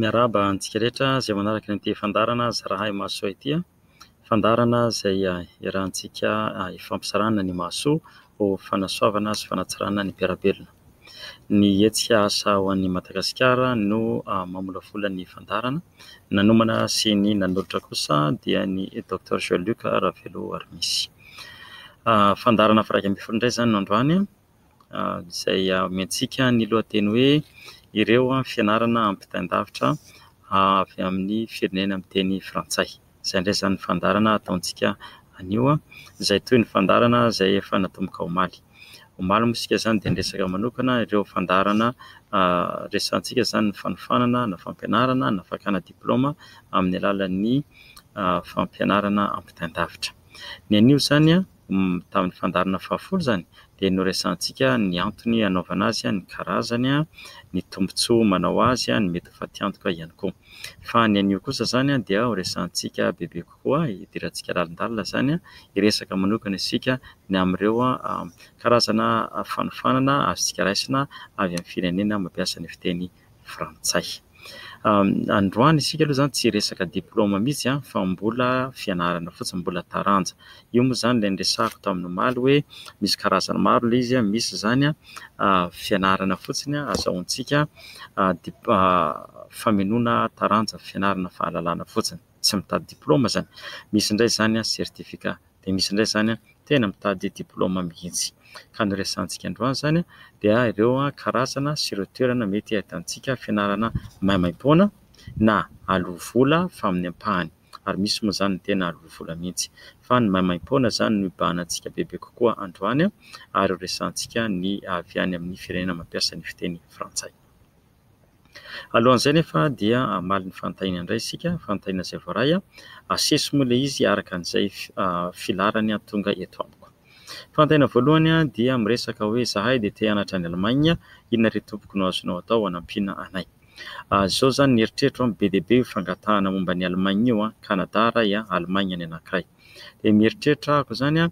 Miarahaba antsika rehetra izay manaraka ity fandaharana zarahay mahasoa ity. Fandaharana izay iarahantsika ifampizarana ny mahasoa ho fanasoavana sy fanatsarana ny mpiara-belona. Ny hetsika Asa ho an'i Madagasikara no mamolavola ny fandaharana. Ny nanomana sy ny nanolotra kosa dia ny Docteur Jean Luc Raveloarimisie. Fandaharana faha iraika ambin'ny folo indray izany no androany izay omentsika ny lohateny hoe ireo fianarana ampitain-davitra avy amin'ny firenena miteny frantsay. Izay indray izany ny fandaharana ataontsika anio izay toy ny fandaharana izay efa natomboka omaly. Omaly moa isika izany dia niresaka manokana ireo fandaharana resahantsika izany ny fanofanana na fampianarana na fakana diplaoma amin'ny alalan'ny fampianarana ampitain-davitra. Ny anio izany tamin'ny fandaharana fahafolo izany dia noresahantsika ny antony hanaovana azy, ny karazany, ny tombontsoa manao azy, ny mety ho fatiantoka ihany koa. Fa ny anio kosa izany dia horesahantsika bebe kokoa, hidirantsika lalindalina izany, hiresaka manokana isika ny amin'ireo karazana fanofanana azontsika raisina avy amin'ny firenena mampiasa ny fiteny... frantsay. Androany isika aloha izany tsy resaka diplaoma mihitsy fa mbola fianarana fotsiny, mbola taranja. Io moa izany ilay niresahako tamin'ny omaly hoe misy karazany maro ilay izy, misy izany fianarana fotsiny ahazoantsika famenoana taranja, fianarana fahalalana fotsiny, tsy mitady diplaoma izany. Misy indray izany certificat. dia misy indray izany tena mitady diplaoma mihitsy. Ka ny resahantsika androany izany dia ireo karazana sy ireo toerana mety ahitantsika fianarana maimaim-poana na aloa vola fa amin'ny ampahany. Ary misy moa izany ny tena aloa vola mihitsy. Fa ny maimaim-poana izany no ibahana antsika bebe kokoa androany ary ho resahantsika ny avy any amin'ny firenena mampiasa ny fiteny frantsay. Alohan'izay anefa dia hamaly ny fanontaniana indray isika, fanontaniana izay voaray. Asesy moa ilay izy araka an'izay filaharany tonga eto amiko. Fanontaniana voalohany dia miresaka hoe izahay dia te hianatra any Allemagne, inona re tompoko no azonao atao hanampiana anay? Izao izany ny eritreritro, be dia be io fangatahana momba an'i Allemagne io, Canada iray, Allemagne ny anankiray. dia mieritreritra aho ko zany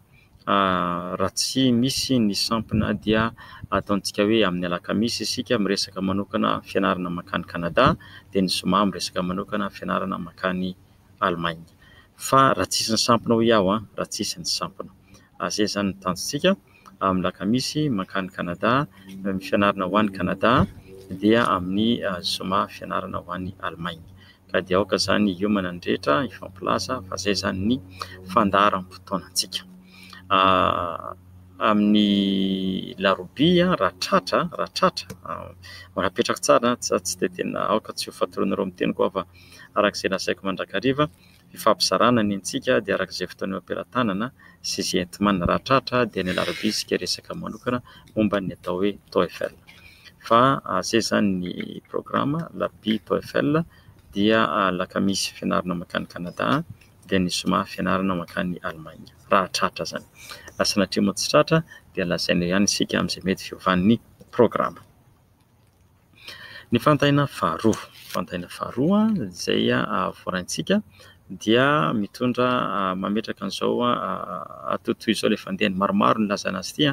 raha tsy misy ny sampona dia ataontsika hoe amin'ny alakamisy isika miresaka manokana fianarana mankany Canada dia ny zoma miresaka manokana fianarana mankany Allemagne fa raha tsisy ny sampona hoy aho an! raha tsisy ny sampona ary zay zany ny tanjontsika amin'ny lakamisy mankany Canada, ny fianarana ho any Canada dia amin'ny zoma fianarana ho any Allemagne ka dia aoka izany hiomana ny rehetra hifampilaza fa izay izany ny fandaharam-potoanantsika. Amin'ny larobia raha tratra raha tratra mbola apetrako tsara fa tsy dia tena aoka tsy ho fatoronareo ny teniko aho fa araka izay lazaiko mandrakariva fifampizarana ny antsika dia araka izay fotoana eo am-pelatanana sy izay enti-manana raha tratra dia ny alarobia isika resaka manokana momba ny atao hoe TOEFL fa izay izany ny programa alarobia TOEFL dia alakamisy fianarana mankany Kanada dia ny zoma fianarana mankany Alemaina raha tratra izany fa sanatria moa tsy tratra dia lazaina ihany isika amin'izay mety fiovan'ny programa Ny fanontaniana faharoa, fanontaniana faharoa izay voaraintsika dia mitondra mametraka an'izao atotoy izao ilay fandehany. Maromaro no nilazana azy ity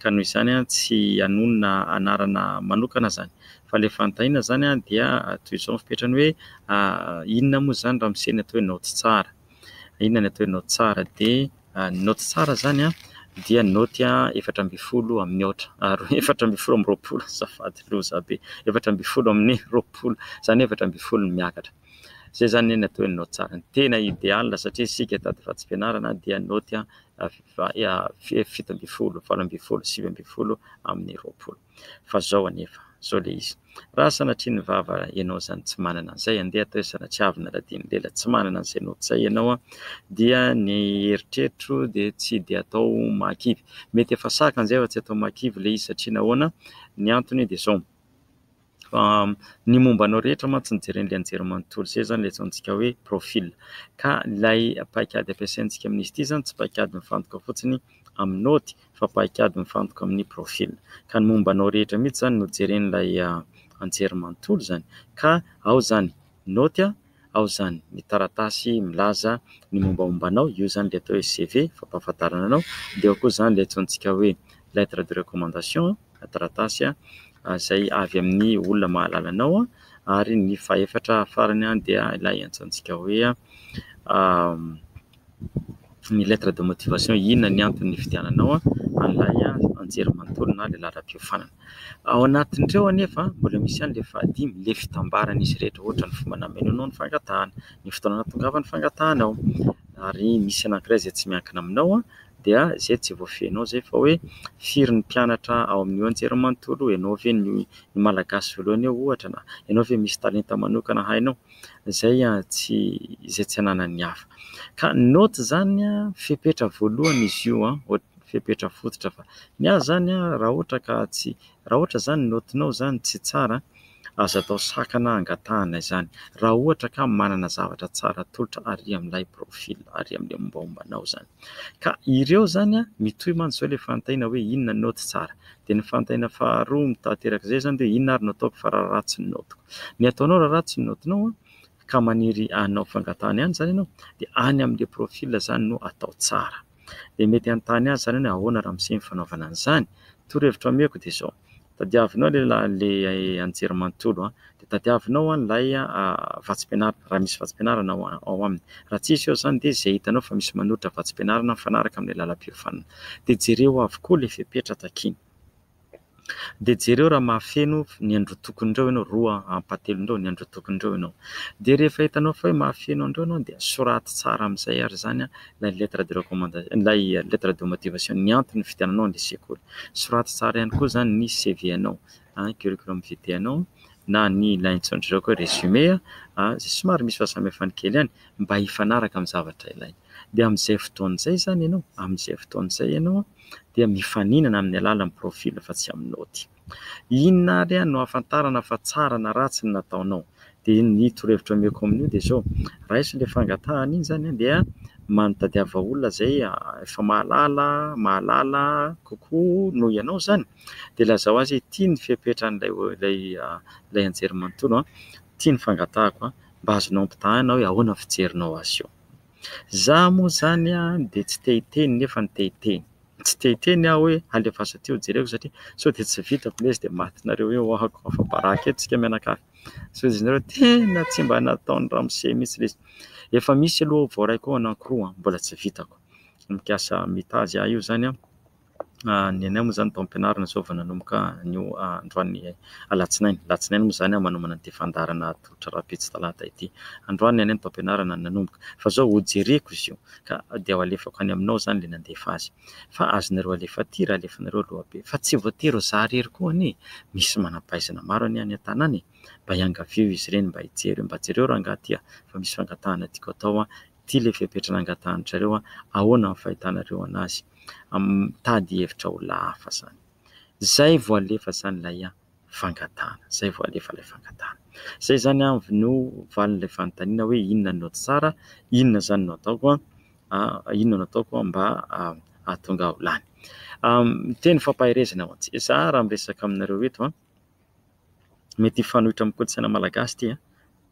ka noho izany tsy hanonona anarana manokana izany fa ilay fanontaniana izany dia toy izao ny fepetrany hoe inona moa izany ramose no ataonao tsy tsara? Inona no ataonao tsara dia. Ny naoty tsara izany dia ny naoty efatra ambin'ny folo amin'ny aotra, ary efatra ambin'ny folo amby roapolo, azafady, loza be, efatra ambin'ny folo amin'ny roapolo, izany hoe efatra ambin'ny folo no miakatra. Izay izany anie no atao hoe naoty tsara. Ny tena ideal satria isika tady vatsim-pianarana dia ny naoty fito ambin'ny folo, valo ambin'ny folo, sivy ambin'ny folo amin'ny roapolo. Fa zao anefa, zao le izy, raha sanatria ny vava enao zany tsy manana an'izay, andeha atao hoe sanatria avy naladian'ny lela tsy manana an'izay note zay enao an, dia ny eritreritro dia tsy dia atao mahakivy. Mety efa saka an'izay fa tsy atao mahakivy le izy satria nahoana? Ny antony dia zao, fa ny momba anao rehetra mantsy ny jeren'le anjerimanontolo zay zany le atsaontsika hoe profil, ka ilay paikady ampiasaintsika amin'izy ity zany tsy paikady mifantoka fotsiny amin'ny note fa paikady mifantoka amin'ny profil. Ka ny momba anao rehetra mihitsy izany no jeren'ilay an-jery manontolo izany. Ka ao izany naoty, ao izany ny taratasy milaza ny mombamomba anao, io izany ilay atao hoe CV, fampahafantarana anao, dia ao koa izany ilay antsointsika hoe lettre de recommandation, taratasy izay avy amin'ny olona mahalala anao, ary ny fahefatra farany dia ilay antsointsika hoe. ny lettre de motivation inona ny antony nifidiananao an'ilay anjery manontolo na ilay laharam-piofanana. Ao anatin'ireo anefa, mbola misy ihany ilay fahadimy, ilay fitambaran'izy rehetra ohatra ny fomba namenoanao ny fangatahana, ny fotoana nahatongavan'ny fangatahanao ary misy anankiray izay tsy miankina aminao dia izay tsy voafehinao izay fa hoe firy ny mpianatra ao amin'io anjery manontolo io, ianao ve ny malagasy voalohany eo ohatra na ianao ve misy talenta manokana hainao. izay tsy izay tsy ananan'ny hafa. Ka ny naoty izany fepetra voalohany izy io, fepetra fototra fa ny ahy izany raha ohatra ka tsy, raha ohatra izany ny naotinao izany tsy tsara aza atao sakana hangatahana izany raha ohatra ka manana zavatra tsara atolotra ary amin'ilay profil ary amin'ilay mombamomba anao izany. Ka ireo izany mitohy mantsy izao ilay fanontaniana hoe inona no naoty tsara. dia ny fanontaniana faharoa mitaha-teraka izay izany dia inona ary no ataoko fa raharaha tsy ny naotiko? Ny ataonao raharaha tsy ny naotinao ka maniry hanao fangatahana ihany izany ianao dia any amin'ilay profil izany no atao tsara. Dia mety hanontany azy izany ianao hoe ahoana ramose ny fanaovana an'izany? Torohevitra omeko dia izao, tadiavinao ilay anjerimanontolo dia tadiavinao an'ilay vatsim-pianarana, raha misy vatsim-pianarana ao aminy. Raha tsy misy eo izany dia izay hitanao fa misy manolotra vatsim-pianarana mifanaraka amin'ilay lalam-piofanana dia jereo avokoa ilay fepetra takiany. Dia jereo raha mahafeno ny androtokon'ireo ianao, roa ampahatelon'ireo ny androtokon'ireo ianao. Dia rehefa hitanao fa hoe mahafeno an'ireo ianao dia soraty tsara amin'izay ary izany ilay lettre de recommandation, ilay lettre de motivation, ny antony fividiananao an'ilay sekoly. Soraty tsara ihany koa izany ny CV-nao ny curriculum vitae anao na ny ilay antsoin'dry zareo hoe résumé izay somary misy fahasamihafany kely ihany mba hifanaraka amin'ny zavatra ilaina. Dia amin'izay fotoana izay izany ianao, amin'izay fotoana izay ianao dia mifaninana amin'ny alalan'ny profil fa tsy amin'ny naoty. Inona ary ihany no ahafantarana fa tsara na ratsy ny nataonao? Dia ny torohevitra omeko amin'io dia izao, raiso ilay fangatahana iny izany dia tadiava olona izay efa mahalala, mahalala kokoa noho ianao izany. dia lazao azy hoe ity ny fepetran'ilay ilay ilay anjerimanontolo ity ny fangatahako mba azonao ampitahaina hoe ahoana ny fijerinao azy io za moa zany an dia tsy te hiteny nefa ny te hiteny tsy te hiteny aho hoe alefaso aty ho jereko satria sao dia tsy vitako lesy dia matinareo hoe ohako afa baraka eto tsika mianakavy so izy nareo tena tsy mba nataon'ny ramose mihitsy lesy efa misy aloha voaray koa anankiroa mbola tsy vitako mikasa mitazy ahy io zany an Ny anay moa izany taom-pianarana izao vao nanomboka anio androany alatsinainy. Alatsinainy moa izany manomana ity fandaharana atolotra rahampitso talata ity. Androany ny anay ny taom-pianarana no nanomboka fa izao hojereko izy io ka dia ho alefako any aminao izany ilay nandefa azy. Fa azonareo alefa aty raha alefanareo aloha be. Fa tsy voatery ho izaho irery koa anie e! Misy manam-pahaizana maro anie any an-tanàna e! Mba iangavieo izy ireny mba hijery hoe mba jereo rangahy aty a! fa misy fangatahana tiako atao Ity ilay fepetra nangatahanareo an! Ahoana ny fahitanareo anazy? Mitady hevitra ho lahafa izany. Izay vao alefa izany ilay fangatahana. Izay vao alefa ilay fangatahana. Izay izany no valin'ilay fanontaniana hoe inona no tsara? Inona izany no ataoko an? Inona no ataoko mba hahatonga ahy ho lany? Miteny fampaherezana ho antsika. Izaho raha miresaka aminareo eto an! Mety hifanohitra amin'ny kolontsaina malagasy ity an,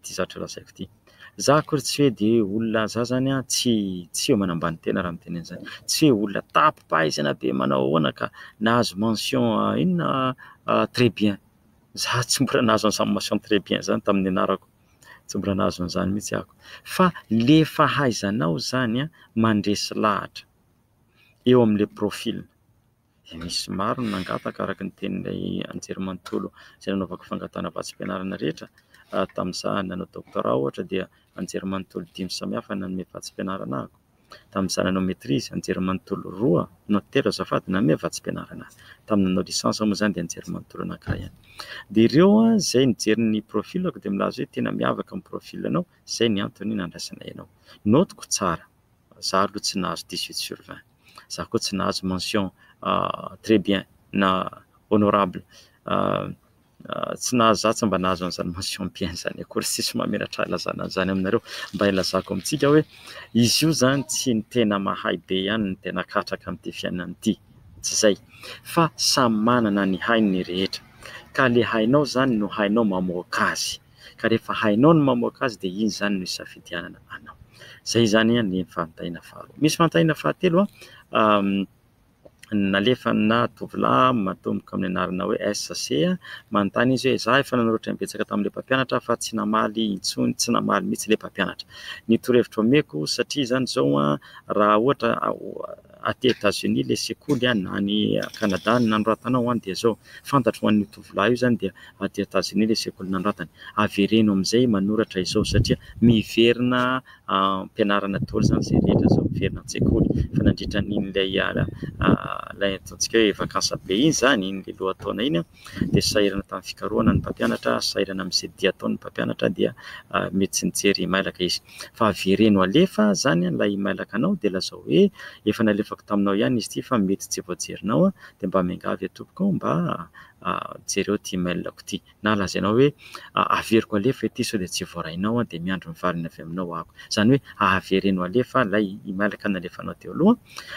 ity zavatra lazaiko ity. Za akory tsy hoe dia olona za zany an, tsy tsy hoe manambany tena raha miteny an'izany, tsy hoe olona tapi-pahaizana be manao ahoana ka nahazo mention inona très bien. Za tsy mbola nahazo an'izany mention très bien zany tamin'ny nianarako, tsy mbola nahazo an'izany mihitsy aho. Fa le fahaizanao zany an, mandresy lahatra eo amin'le profil. Nisy maro no nangataka araka ny tenin'ilay anjerimanontolo izay nanaovako fangatahana vatsim-pianarana rehetra tamin'izaho nanao doctorat ohatra dia anjerimanontolo dimy samihafa no nanome vatsim-pianarana ahako. Tamin'izaho nanao maitrise, anjerimanontolo roa na telo azafady no nanome vatsim-pianarana ahy. Tamin'ny nanao licence aho moa izany dia anjerimanontolo anankiray ihany. Dia ireo izay nijery ny profilako dia milaza hoe tena miavaka ny profilanao, izay no antony nandraisana anao. Notiko tsara. Za aloha tsy nahazo dix huit sur vingt. Za koa tsy nahazo mention très bien na honorable. Tsy nahazo za tsy mba nahazo an'izany mention bien zany akory. Tsisy mamelatra ahy hilazana an'izany aminareo. Mba hilazako amintsika hoe izy io zany tsy ny tena mahay be ihany no tena katraka amin'ity fiainana ity. Tsy zay. Fa samy manana ny hainy ny rehetra. Ka le hainao zany no hainao mamoaka azy. ka rehefa hainao ny mamoaka azy dia iny izany no hisafidianana anao. Izay izany ny fanontaniana faharoa. Misy fanontaniana fahatelo nalefanà tovolahy matomboka amin'ny anarana hoe SC, manontany izy hoe izaho efa nanoratra imbetsaka tamin'ilay mpampianatra fa tsy namaly intsony, tsy namaly mihitsy ilay mpampianatra ny torohevitra omeko satria izany izao raha ohatra aty Etats-Unis ilay sekoly an, na any Canada ny nanoratana ao an, dia zao, fantatro ho an'io tovolahy io zany dia aty Etats-Unis ilay sekoly nanoratany, avereno amin'izay manoratra izao satria miverina am-pianarana daholo zany izay rehetra zao, miverina an-tsekoly fa nandritra an'iny ilay ilay ataontsika hoe vacances be iny zany, iny ilay lohataona iny an, dia sahirana tamin'ny fikarohana ny mpampianatra, sahirana amin'izay dia ataon'ny mpampianatra dia mety tsy nijery mailaka izy. Fa avereno alefa izany ilay mailakanao dia lazao hoe efa nalefako taminao ihany izy ity fa mety tsy voajerinao dia mba miangavy aho tompoko mba jereo ity mailako ity na lazainao hoe averiko alefa ity sao dia tsy voarainao dia miandry ny valiny avy aminao aho. Izany hoe avereno alefa ilay mailaka nalefanao teo aloha.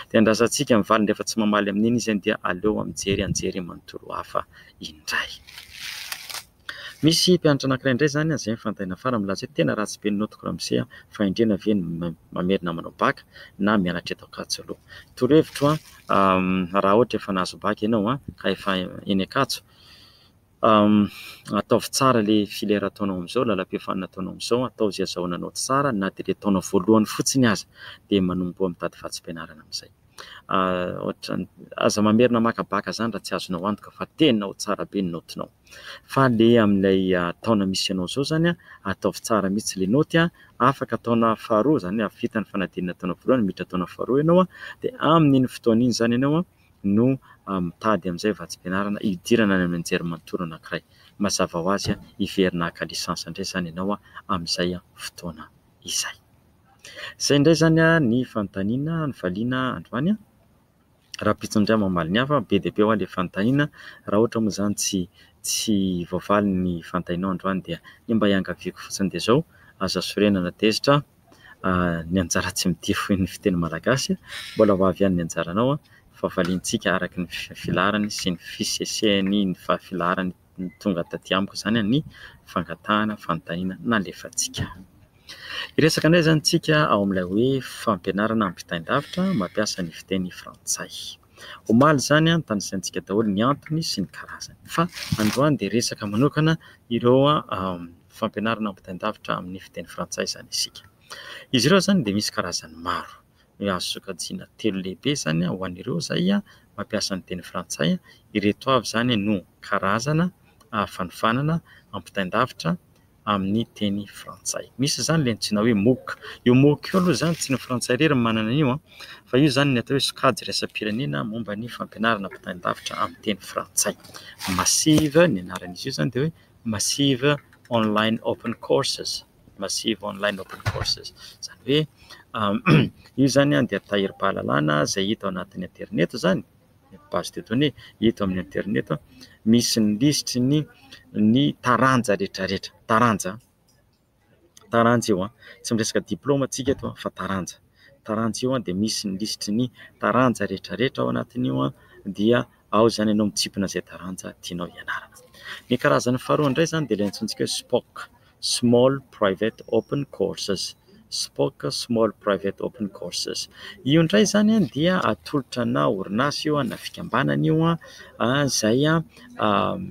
Dia andrasantsika ny valiny rehefa tsy mamaly amin'iny izy dia aleo mijery anjery manontolo hafa indray. Misy mpianatra anankiray indray izany, izay ny fanontaniana farany milaza hoe tena ratsy be ny naotiko ramose a! Fahendrena ve ny mamerina manao bac na mianatra eto Ankatso aloha? Torohevitro aho raha ohatra efa nahazo bac ianao ka efa eny Ankatso, Ataovy tsara ilay filera ataonao amin'izao, lalam-piofanana ataonao amin'izao, atao izay azahoana anao tsara na dia ilay taona voalohany fotsiny aza dia manomboha mitady vatsim-pianarana amin'izay. Ohatran'ny, aza mamerina maka baka izany raha tsy azonao antoka fa tena ho tsara be ny naotinao. Fa ilay amin'ilay taona misy anao izao izany, ataovy tsara mihitsy ilay naoty, afaka taona faharoa izany hoe vita ny fanadinana taona voalohany miditra taona faharoa ianao dia amin'iny fotoana iny izany ianao no mitady amin'izay vatsim-pianarana hidirana any amin'ny anjerimanontolo anankiray. Mazava ho azy, hiverina haka lisansa indray izany ianao amin'izay fotoana izay. Izay indray izany ny fanontaniana novaliana androany. Rahampitso indray mamaly ny hafa. Be dia be ho'a ilay fanontaniana. Raha ohatra moa izany tsy tsy voavaly ny fanontanianao androany dia ny mba iangaviako fotsiny dia izao, aza sorena na tezitra. ny anjara tsy midiro fo ny fiteny malagasy. Mbola ho avy ihany ny anjaranao fa valiantsika araka ny filaharany sy ny fisesehany ny filaharany tonga taty amiko izany ny fangatahana fanontaniana nalefantsika. Hiresaka indray izany isika ao amin'ilay hoe fampianarana ampitain-davitra mampiasa ny fiteny frantsay. Omaly izany no tanisaintsika daholo ny antony sy ny karazany. Fa androany dia resaka manokana ireo fampianarana ampitain-davitra amin'ny fiteny frantsay izany isika. Izy ireo izany dia misy karazany maro. Ny azo sokajiana telo lehibe izany ho an'ireo izay mampiasa ny teny frantsay, ireto avy izany no karazana fanofanana ampitain-davitra amin'ny teny frantsay. Misy izany ilay antsoina hoe mooc. Io mooc io aloha izany tsy ny frantsay irery no manana an'io fa io izany ny atao hoe sokajy iraisam-pirenena momba ny fampianarana ampitain-davitra amin'ny teny frantsay. Massive ny anaran'izy io izany dia hoe massive online open courses, massive online open courses. Izany hoe io izany dia tahirim-pahalalana izay hita ao anatin'ny aterineto izany. page des données eto amin'ny internet misy ny lisitry ny ny taranja rehetra rehetra, taranja taranja io an! tsy miresaka diplaoma isika eto fa taranja taranja io an! dia misy ny lisitry ny taranja rehetra rehetra ao anatin'io an! dia ao izany ianao mitsipona izay taranja tianao hianarana, ny karazany faharoa indray izany dia ilay antsointsika hoe spok. Small Private Open Courses, Spoc Small Private Open Courses. Io indray izany dia atolotra ana orinasa io na fikambanana io izay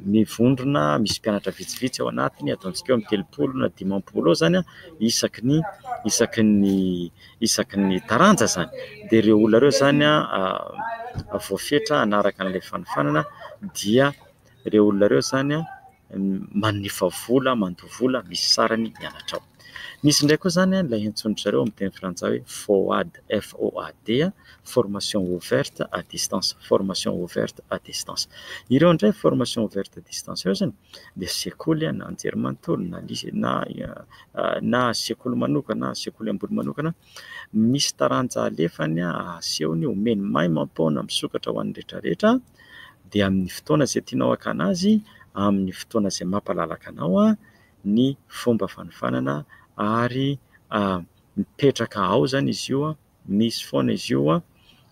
mivondrona, misy mpianatra vitsivitsy ao anatiny, ataontsika hoe eo amin'ny telopolo na dimampolo eo izany isaky ny isaky ny isaky ny taranja izany. Dia ireo olona ireo izany voafetra hanaraka an'ilay fanofanana dia ireo olona ireo izany mandefa vola, mandoa vola misy sarany ny anatra ao. Misy indray koa izany ilay antsoin-dry zareo amin'ny teny frantsay hoe FOAD, FOAD, Formation Ouverte à Distance, Formation Ouverte à Distance. Ireo indray Formation Ouverte à Distance ireo izany dia sekoly na anjerimanontolo na lise- na na sekoly manokana, sekoly ambony manokana, misy taranja alefany, asehony, omeny maimam-poana misokatra ho an'ny rehetra rehetra. dia amin'ny fotoana izay tianao hakana azy, amin'ny fotoana izay mampalalaka anao ny fomba fanofanana ary mipetraka ao izany izy io, misy foana izy io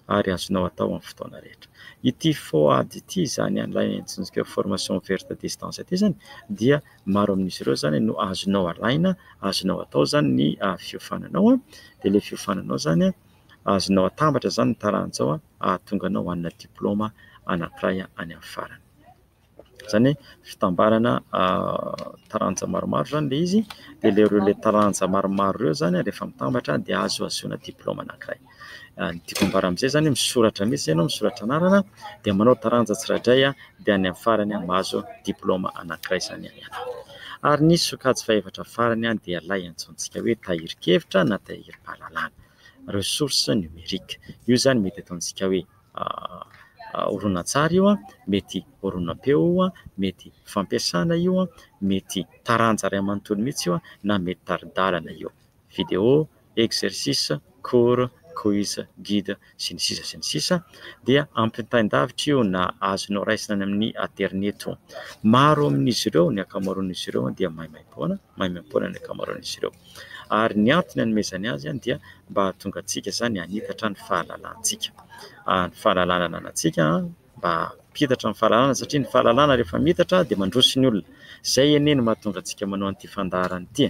ary azonao atao amin'ny fotoana rehetra. Ity FOAD ity izany an'ilay antsointsika hoe formation ouverte à distance ity izany dia maro amin'izy ireo izany no azonao alaina, azonao atao izany ny fiofananao dia ilay fiofananao izany. azonao atambatra izany ny taranja ao hahatonga anao hanana diplaoma anankiray any amin'ny farany. Izany hoe fitambarana taranja maromaro izany ilay izy dia ilay ireo ilay taranja maromaro ireo izany rehefa mitambatra dia azo hahazoana diplaoma anankiray. Ny tiako ambara amin'izay izany hoe misoratra mihitsy ianao, misoratra anarana dia manao taranja tsirairay dia any amin'ny farany mahazo diplaoma anankiray izany ianao. Ary ny sokajy fahefatra farany dia ilay antsointsika hoe tahirin-kevitra na tahirim-pahalalana. ressources numériques. Io izany mety ataontsika hoe horonantsary io, mety horonam-peo io, mety fampiasana io, mety taranja iray manontolo mihitsy io na mety tari-dalana io. Vidéo, exercice, cours, quiz, guide sy ny sisa sy ny sisa dia ampitain-davitra io na azonao raisina any amin'ny aterineto. Maro amin'izy ireo, ny ankamaroan'izy ireo dia maimaim-poana, maimaim-poana ny ankamaroan'izy ireo. ary ny antony anomezany azy dia mba hahatonga antsika izany hanitatra ny fahalalantsika ary ny fahalalana ananantsika mba hampitatra ny fahalalana satria ny fahalalana rehefa miitatra dia mandroso ny olona izay anie no mahatonga antsika manao an'ity fandaharana ity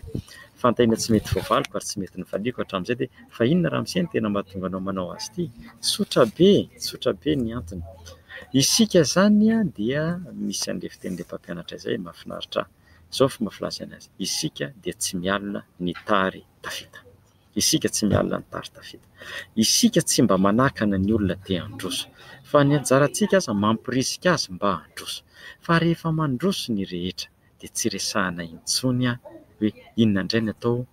fantahina tsy mety voavaliko ary tsy mety novaliako hatramin'izay dia fa inona ramose no tena mahatonga anao manao azy ity tsotra be tsotra be ny antony isika izany dia misy an'ilay fitenin'ilay mpampianatra izay mahafinaritra ahy Izao ny fomba filazany azy, isika dia tsy mialona ny tary tafita. Isika tsy mialona ny tary tafita. Isika tsy mba manakana ny olona te handroso. Fa ny anjarantsika aza mampirisika azy mba handroso. Fa rehefa mandroso ny rehetra dia tsy resahana intsony hoe inona indray ny atao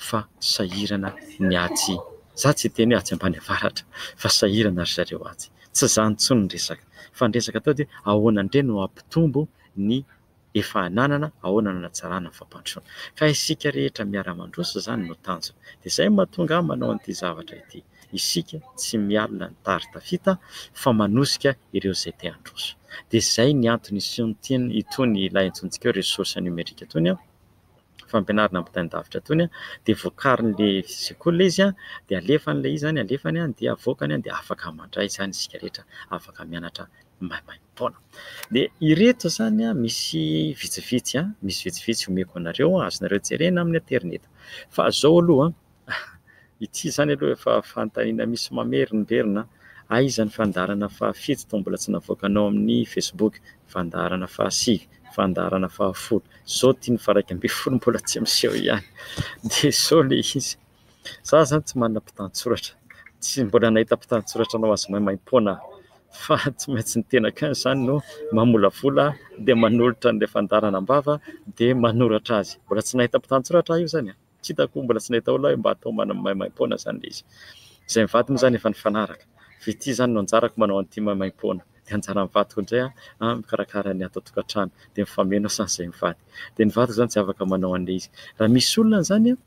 fa sahirana ny atsy, za tsy hiteny hoe atsy ambany avaratra fa sahirana ry zareo atsy. Tsy izany intsony ny resaka. Fa ny resaka atao dia ahoana indray no hampitombo ny efa ananana ahoana no hanatsarana ny fampandrosoana. Ka isika rehetra miara-mandroso izany no tanjona. Dia izay no mahatonga ahy manao an'ity zavatra ity. Isika tsy mialona ny tary tafita fa manosika ireo izay te handroso. Dia izay ny antony isin'itony ilay antsointsika hoe ressource numérique itony. fampianarana ampitain-davitra tony dia vokarin'ilay sekoly ilay izy dia alefany ilay izy izany alefany dia avoakany dia afaka mandray izany isika rehetra afaka mianatra maimaim-poana dia ireto izany misy vitsivitsy misy vitsivitsy omeko anareo azonareo jerena amin'ny aterineto fa izao aloha Ity izany aloha efa fanontaniana misy mamerimberina an! Aiza ny fandaharana fahafito toa mbola tsy navoakanao amin'ny facebook? Fandaharana fahasivy, fandaharana fahafolo, izao ity ny faharaika ambin'ny folo mbola tsy miseho ihany. Désolé izy. Za izany tsy manana mpitantsoratra, tsy mbola nahita mpitantsoratra anao azy maimaimpoana aho fa tsy maintsy ny tenako ihany izany no mamolavola dia manolotra an'ilay fandaharana am-bava dia manoratra azy. Mbola tsy nahita mpitantsoratra aho io izany an! tsy hitako mbola tsy nahita olona hoe mba atao maimaimpoana izany ilay izy. Izay mivady moa izany efa nifanaraka. Fa ity izany no anjarako manao an'ity maimaimpoana. Dia anjaran'ny vadiko indray aho an, mikarakara ny ato an-tokantrano. Dia mifameno aho sain'izay mivady. Dia ny vadiko izany tsy afaka manao an'ilay izy. Raha misy olona izany an,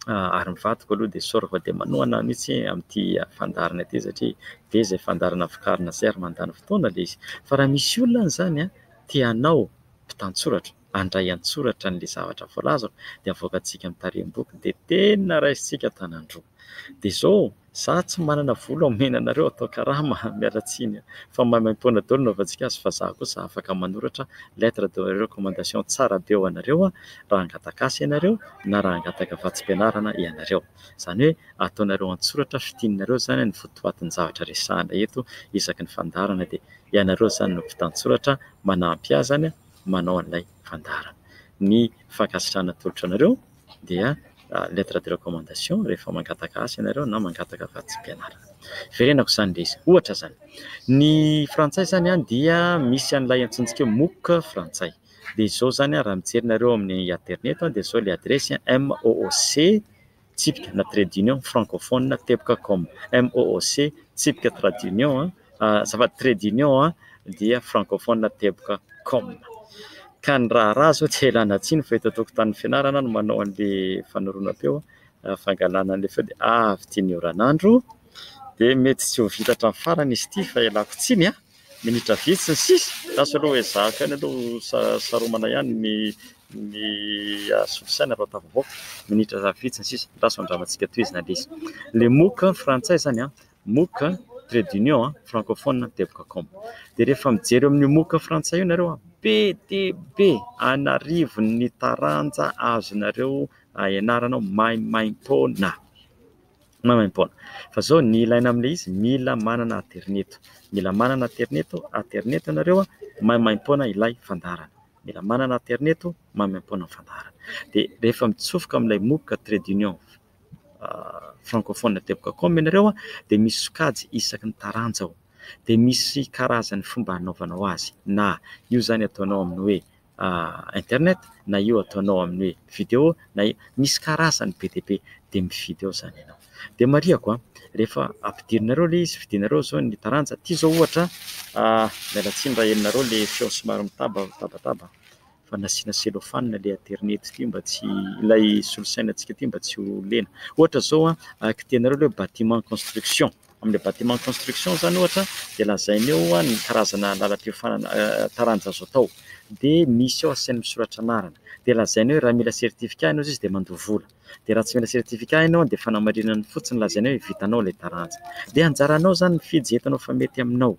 ary ny vadiko aloha dia sorry fa dia manohana ahy mihitsy amin'ity fandaharana ity satria be izay fandaharana vokarina izay ary mandany fotoana ilay izy. Fa raha misy olona izany an, te hanao mpitantsoratra, handray an-tsoratra an'ilay zavatra voalaza aho dia avoakantsika ny tarehim-boky dia tena raisintsika an-tanan-droa. Dia izao, izaho tsy manana vola omena anareo atao karama, miala tsiny fa maimaimpoana daholo ny hanaovantsika azy fa izaho kosa afaka manoratra lettre de recommandation tsara be ho anareo raha hangataka asa ianareo na raha hangataka vatsim-pianarana ianareo. Izany hoe ataonareo an-tsoratra fintinanareo izany ny votoatin-javatra resahina eto isaky ny fandaharana dia ianareo izany no mpitantsoratra manampy ahy izany an! manao an'ilay fandaharana. Ny fankasitrahana atolotro anareo dia lettre de recommandation rehefa mangataka asa ianareo na mangataka vatsim-pianarana. Verenako izany dia izy. Ohatra izany, ny frantsay izany dia misy an'ilay antsointsika hoe MOOC frantsay. Dia izao izany raha mijery nareo amin'ny aterineto dia izao ilay adiresy, mooc. tsipika na trade union francophone teboka com, MOOC, tsipika trade union azafady trade union dia francophone teboka com. Ka ny raharaha izao dia ilana tsiny fa eto an-tokotanin'ny fianarana no manao an'ilay fanoroana-peo, fangalana an'ilay feo dia avy ity ny oran'andro dia mety tsy ho vita hatramin'ny farany izy ity fa ialako tsiny an! Minitra vitsy ny sisa, lasa aloha ezahako ihany aloha saromana ihany ny ny asolo saina aloha tafavoaka, minitra vitsy ny sisa, lasa ho andramantsika tohizina indrisy. Le MOOC frantsay izany an, MOOC trait d'union francophone teboka com. Dia rehefa mijery eo amin'io MOOC frantsay io nareo an, be dia be an'arivony ny taranja azonareo ianarana maimaimpoana. Maimaimpoana. Fa zao ny ilaina amin'ilay izy mila manana aterineto. Mila manana aterineto, aterineto ianareo a, maimaimpoana ilay fandaharana. Mila manana aterineto, maimaimpoana ny fandaharana. Dia rehefa mitsofoka amin'ilay MOOC Trade Union Francophone Teboka Com ianareo a, dia misy sokajy isaky ny taranja ao. Dia misy karazan'ny fomba hanaovanao azy. Na io izany ataonao amin'ny hoe internet na io ataonao amin'ny hoe video na io, misy karazany be dia be dia mividy ao izany ianao. Dia marihako a, rehefa ampidirinareo ilay izy, fidinareo izao ny taranja, ity izao ohatra miala tsiny raha henonareo ilay feo somary mitaba mitabataba fa nasiana cellophane ilay aterineto ity mba tsy ilay solosainantsika ity mba tsy ho lena, ohatra izao a, kitihanareo ilay hoe bâtiment construction. Amin'ny bâtiment de construction izany ohatra dia lazaina eo ny karazana lalam-piofanana taranja azo atao dia misy eo asiany misoratra anarana dia lazaina hoe raha mila certificat ianao izay izy dia mandoa vola dia raha tsy mila certificat ianao dia fanamarinana fotsiny lazaina hoe vitanao ilay taranja dia anjaranao izany mifidy izay hitanao fa mety aminao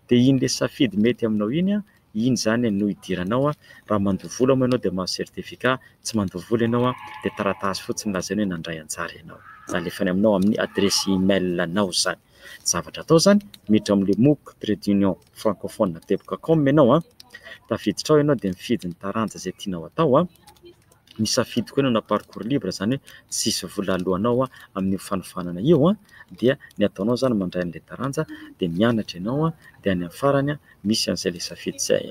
dia iny ilay safidy mety aminao iny an iny izany no hidiranao raha mandoa vola moa ianao dia mahazo certificat, tsy mandoa vola ianao dia taratasy fotsiny lazaina hoe nandray anjara ianao, izany alefany aminao amin'ny adiresy email anao izany, ny zavatra atao izany miditra ao amin'ilay mooc trait d'union francophone teboka com ianao an, tafiditra ao ianao dia mifidy ny taranja izay tianao atao an. nisafidy koa nanao parcours libre izany hoe tsisy vola aloanao amin'io fanofanana io dia ny ataonao izany mandray an'ilay taranja dia mianatra ianao dia any amin'ny farany misy an'izay ilay safidy izay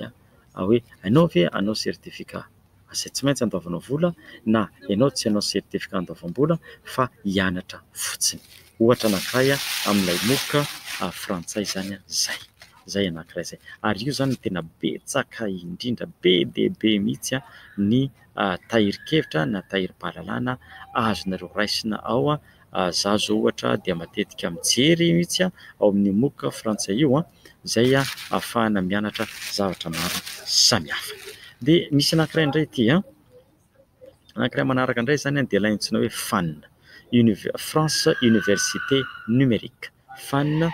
hoe ianao ve hanao certificat izay tsy maintsy andoavanao vola na ianao tsy hanao certificat andoavam-bola fa hianatra fotsiny. Ohatra anankiray amin'ilay MOOC frantsay izany izay. izay anankiray izay. Ary io izany no tena betsaka indrindra, be dia be mihitsy ny tahirin-kevitra na tahirim-pahalalana azonareo raisina ao. Izaho izao ohatra dia matetika mijery mihitsy ao amin'ny MOOC frantsay io, izay ahafahana mianatra zavatra maro samihafa. Dia misy anankiray indray ity. Anankiray manaraka indray izany dia ilay antsoina hoe FAN, France Université Numérique, FAN,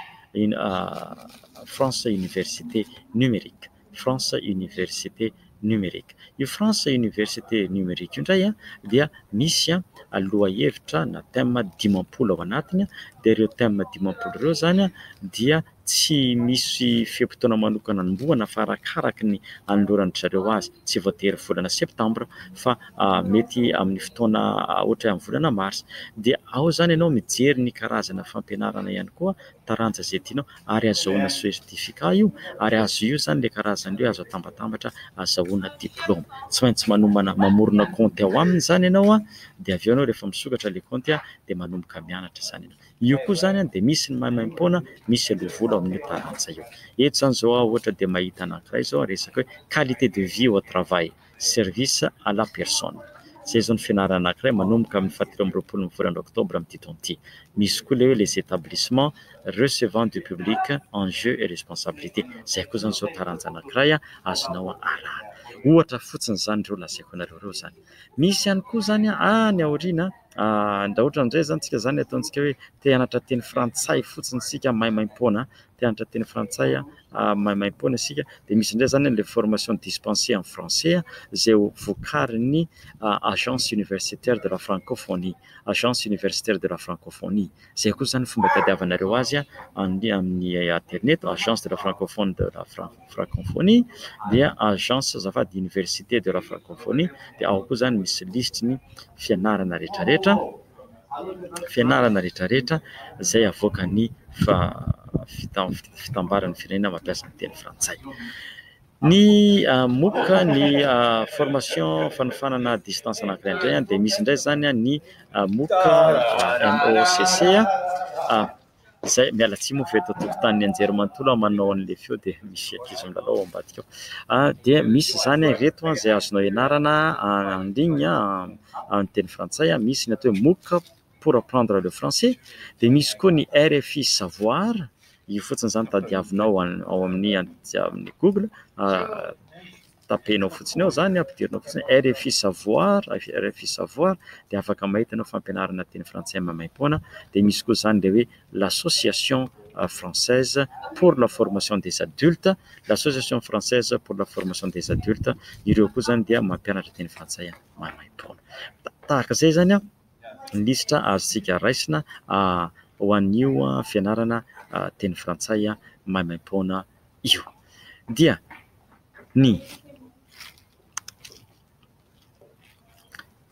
France Université Numérique, France Université Numérique. Io France Université Numérique io indray dia misy lohahevitra na thème dimampolo ao anatiny dia ireo thème dimampolo ireo izany dia... Tsy misy fe-potoana manokana anombohana fa arakaraka ny anoloran-dry zareo azy. Tsy voatery volana septambra fa mety amin'ny fotoana ohatra hoe amin'ny volana marsa. Dia ao izany ianao mijery ny karazana fampianarana ihany koa, taranja izay tianao ary azahoana certificat io ary azo io izany ilay karazana io, azo atambatambatra, azahoana diplaoma. Tsy maintsy manomana, mamorona kaonty ao aminy izany ianao dia avy eo ianao rehefa misokatra ilay kaonty dia manomboka mianatra izany ianao. Io koa izany an dia misy ny maimaimpoana, misy aloha vola ao amin' io taranja io. Eto izany izao aho ohatra dia mahita anankiray izao resaka hoe qualité de vie au travail, service à la personne. Izay izao ny fianarana anankiray manomboka amin' ny fahatelo amby roapolo ny volana oktobra amin' ity taona ity. Misy koa ilay hoe les établissements recevant du public, enjeux et responsabilités. Izay koa izany izao taranja anankiray azonao arahana. Ohatra fotsiny izany ireo lazaiko anareo ireo izany. Misy ihany koa izany an, any aoriana an. Andaotra indray izany tsika izany ataontsika hoe te hianatra teny frantsay fotsiny isika maimaimpoana, te hianatra teny frantsay maimaimpoana isika dia misy indray izany ilay formation dispensée en français izay vokarin'ny agence universitaire de la francophonie, agence universitaire de la francophonie. Izay koa izany fomba hitadiavanareo azy amin'ny aterineto, agence de la francophonie de la France. Francophonie dia agence azafady université de la Francophonie dia ao koa izany misy lisitry ny fianarana rehetra rehetra fianarana rehetra rehetra izay avoakan'ny fitambaran'ny firenena mampiasa ny teny frantsay ny moka ny formation fanofanana distance anakiray indray dia misy indray izany ny moka MOCC izay miala tsiny moa fa eto an-tokotanin'ny anjerimanontolo aho manao an'ilay feo dia misy ankizy milalao ao ambadika ao dia misy izany ireto izay azonao ianarana en ligne amin'ny teny frantsay, misy ny atao hoe mooc pour apprendre le français dia misy koa ny RFI savoir, io fotsiny izany tadiavinao ao amin'ny google. tapenao fotsiny ao izany, ampidirinao fotsiny hoe rfi savoir, rfi savoir, dia afaka mahita an'io fampianarana teny frantsay maimaim-poana. Dia misy koa izany ilay hoe l'association française pour la formation des adultes, l'association française pour la formation des adultes, ireo koa izany dia mampianatra teny frantsay maimaim-poana. Tahaka izay izany an! lisitra azontsika raisina ho an'io fianarana teny frantsay maimaim-poana io dia ny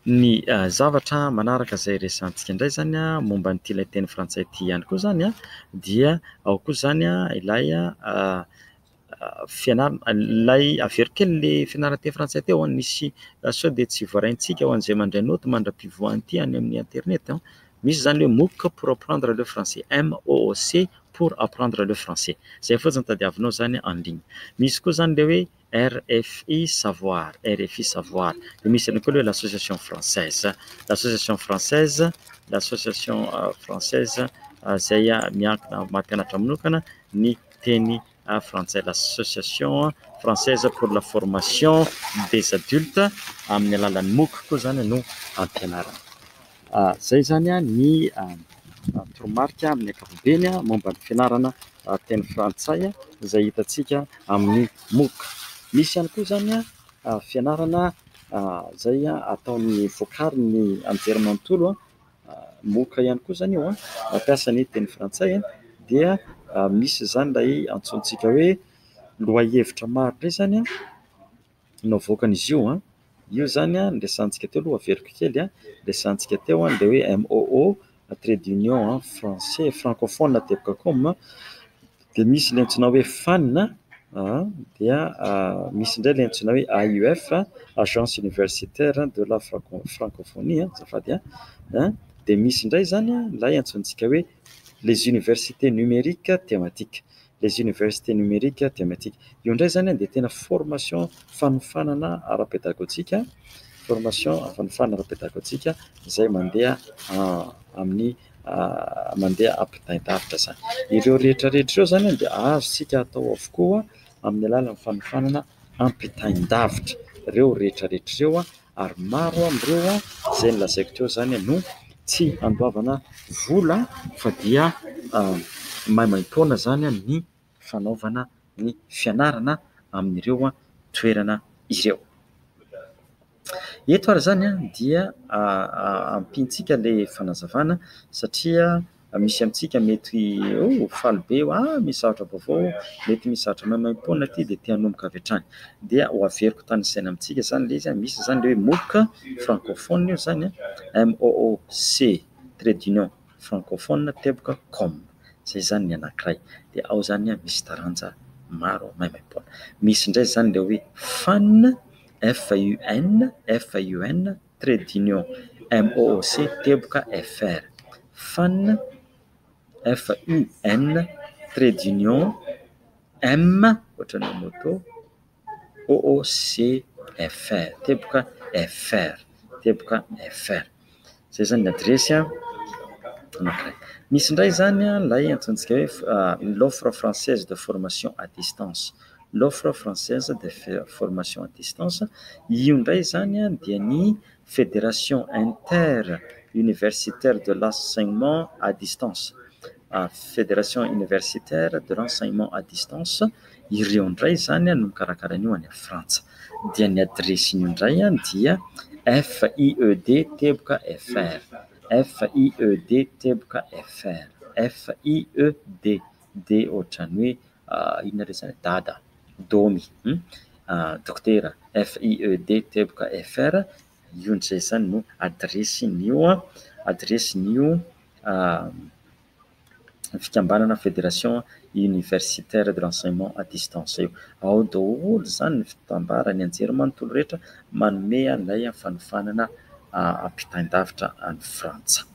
ny zavatra manaraka izay resahantsika indray izany momba an'ity ilay teny frantsay ity ihany koa izany dia ao koa izany ilay fianarana ilay averiko kely le fianarana teny frantsay teo an, misy sao dia tsy voaraintsika ho an'izay mandray naoty mandra-pivoahan'ity any amin'ny internet an, misy izany le MOOC pour apprendre le français, MOOC pour apprendre le français, izay fotsiny tadiavinao izany en ligne, misy koa izany le hoe RFI savoir, RFI savoir, dia misy ihany koa le hoe l'association française, l'association française, l'association française izay miankina maha mpianatra manokana ny. teny frantsay, l'association française pour la formation des adultes, amin'ny alalan'ny mooc koa izany no ampianarana. Izay izany ny toromarika amin'ny ankapobeny momba ny fianarana teny frantsay izay hitantsika amin'ny mooc. Misy ihany koa izany fianarana izay ataon'ny, vokarin'ny anjerimanontolo. moka ihany koa izany io, mampiasa ny teny frantsay dia misy izany ilay antsointsika hoe lohahevitra maro be izany no avoakan'izy io. Io izany no resahintsika teo aloha, averiko kely, dia resahintsika teo ny hoe MOO, trait d'union français francophone tebcom. Dia misy ilay antsoina hoe FANN dia misy indray ilay antsoina hoe AUF, Agence Universitaire de la Francophonie azafady an! dia misy indray izany ilay antsointsika hoe les universités numériques thématiques, les universités numériques thématiques. Io indray izany dia tena formation fanofanana ara-pedagojika, formation fanofanana ara-pedagojika izay mandeha amin'ny. mandeha ampitaintahavitra izany. Ireo rehetra rehetra ireo izany dia azontsika atao avokoa amin'ny alalan'ny fanofanana ampitain-davitra ireo rehetra rehetra ireo ary maro amin'ireo izay nolazaiko teo izany no tsy handoavana vola fa dia maimaim-poana izany ny... fanaovana ny fianarana amin'ireo toerana ireo. Eto ary izany dia ampiantsika ilay fanazavana satria misy amintsika mety ho faly be hoe ah misy zavatra vaovao, mety misy zavatra maimaimpoana aty dia te hanomboka avy hatrany. Dia ho averiko tany an-tsaina amintsika izany ilay izy hoe misy izany hoe MOOC, francophone io izany, MOOC, trait d'union. francophone teboka com zay zany ny anakiray dia ao zany a misy taranja maro maimaipoana misy indray zany le hoe fun FUN FUN trait d'union MOOC teboka FR fun FUN trait d'union M ohatran'ny moto OOCFR, teboka FR, teboka FR. Izay izany ny adiresy anankiray. Misy indray izany ilay antsointsika hoe l'offre française de formation à distance, l'offre française de formation à distance. Io indray izany dia ny Fédération inter-universitaire de l'enseignement à distance, Fédération universitaire de l'enseignement à distance, ireo indray izany no mikarakara an'io any Frantsa. Dia ny adiresin'io indray dia FIED teboka FR, FIED teboka FR, FIED dia ohatran'ny hoe inona re zany dada, domy, dokotera, FIED, teboka, FR, io ndry zay zany no adiresin'io adiresin'io fikambanana fédération universitaire de l'enseignement à distance io, ao daholo zany ny fitambara, ny anjery manontolo rehetra manome an'ilay fanofanana ampitain-davitra any Frantsa.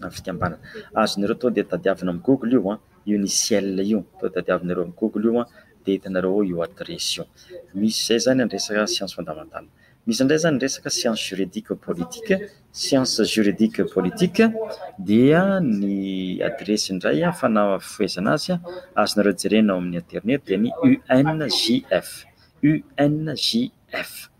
na fikambanana. Azonareo tonga dia tadiavina amin'ny google io an, io ny ciel io, tonga dia tadiavinareo amin'ny google io an, dia hitanareo ao io adiresy io. Misy izay zany ny resaka science fondamentale. Misy indray zany ny resaka science juridique politique, science juridique politique dia ny adiresy indray fanafohezana azy an, azonareo jerena ao amin'ny internet dia ny UNJF, UNJF.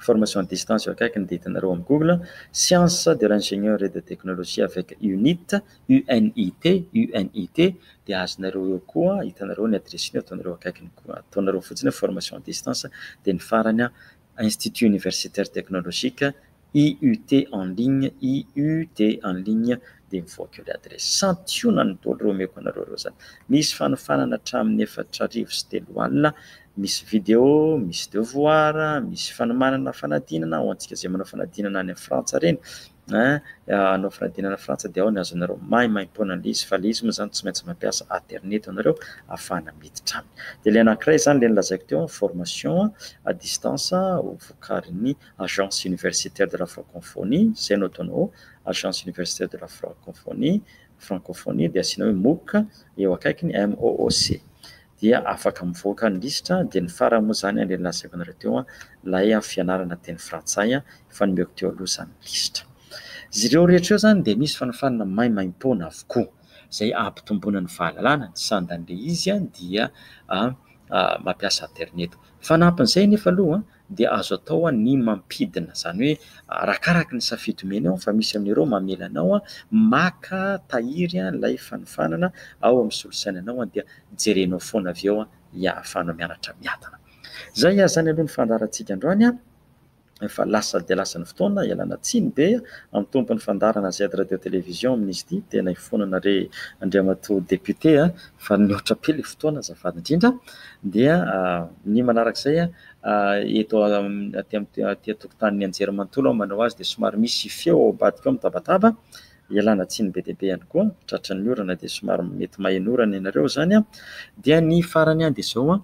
Formation à distance eo akaiky ny ditinareo am google, sciences de l'ingénieur et de technologie avec unit, UNIT, UNIT, dia azonareo eo koa, hitanareo ny adressiny eo, ataonareo akaikiny koa, ataonareo fotsiny hoe formation à distance, dia ny farany an, Institut universitaire technologique, IUT en ligne, IUT en ligne, dia mivoaka eo ilay adiresy. Santionany ny doly ireo omeko anareo ireo izany. Misy fanofanana hatramin'ny efatra arivo sy telo alina, misy video, misy devoir, misy fanomanana fanadinana, ho antsika izay manao fanadinana any Frantsa ireny, hanao fanadinana any Frantsa dia ao ny azonareo maimaimpoana an'ilay izy, fa ilay izy moa izany tsy maintsy mampiasa aterineto ianareo ahafahana miditra aminy. Dia ilay anankiray izany, ilay nolazaiko teo, formation à distance, ho vokarin'ny Agence Universitaire de la Francophonie, izay no ataonao Agence Universitaire de la Francophonie, Francophonie, dia asiana hoe mooc eo akaikiny, MOOC, dia afaka mivoaka ny lisitra, dia ny farany moa izany ilay nolazaiko anareo teo, ilay fianarana teny frantsay efa nomeko teo aloha izany lisitra. Izy ireo rehetra ireo izany dia misy fanofanana maimaimpoana avokoa izay hampitomboana ny fahalalana, ny sandan'ilay izy dia mampiasa aterineto. Fanampin'izay anefa aloha dia azo atao ny mampidina, izany hoe arakaraka ny safidy omenao fa misy amin'ireo mamela anao maka tahiry ilay fanofanana ao amin'ny solosainanao dia jerenao foana avy eo ny ahafahanao mianatra miadana. Izay ary izany aloha ny fandaharantsika androany fa lasa dia lasa ny fotoana ialana tsiny be amin'ny tompon'ny fandaharana Z Radio Télévision amin'izy ity, tena ifonana re Andriamatoa Député fa nihoatra be ilay fotoana azafady indrindra dia ny manarak'izay eto aty aty an-tokotanin'ny anjerimanontolo aho manao azy dia somary misy feo ao ambadika ao mitabataba, ialana tsiny be dia be ihany koa, tratry ny orana dia somary mety maheno orana ianareo izany an, dia ny farany dia izao an,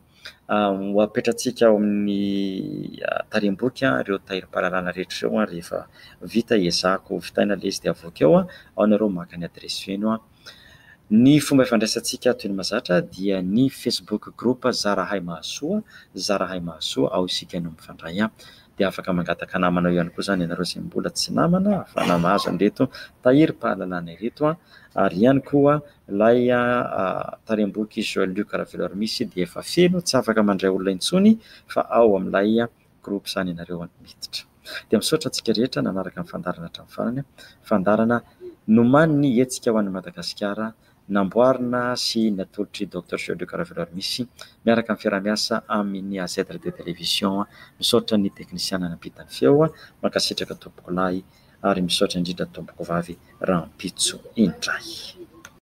ho apetratsika ao amin'ny tarehiboky ireo tahirim-pahalalana rehetra ireo rehefa vita, ezahako vitaina ilay izy dia avoaka eo an, ao ianareo maka ny adiresy feno an. Ny fomba ifandraisantsika toy ny mahazatra dia ny Facebook group Zarahay Mahasoa, Zarahay Mahasoa, ao isika no mifandray. Dia afaka mangataka namana ao ihany koa izany ianareo izay mbola tsy namana ahafahana mahazo an'ireto tahirim-pahalalana ireto. Ary ihany koa ilay tarem-boky Joël Luc Raveloarimixy dia efa feno, tsy afaka mandray olona intsony fa ao amin'ilay groupe zany ianareo an! Miditra. Dia misaotra antsika rehetra nanaraka ny fandaharana hatramin'ny farany an! Fandaharana nomanin'ny Hetsika ho an'i Madagasikara namboarina sy natolotr'i Docteur Georges Karavelo ary misy miaraka amin'ny fiaraha-miasa amin'ny AZ Radio Télévision. Misaotra ny teknisiana nampita ny feo. Mankasitraka tompokolahy ary misaotra indrindra tompoko vavy rahampitso indray.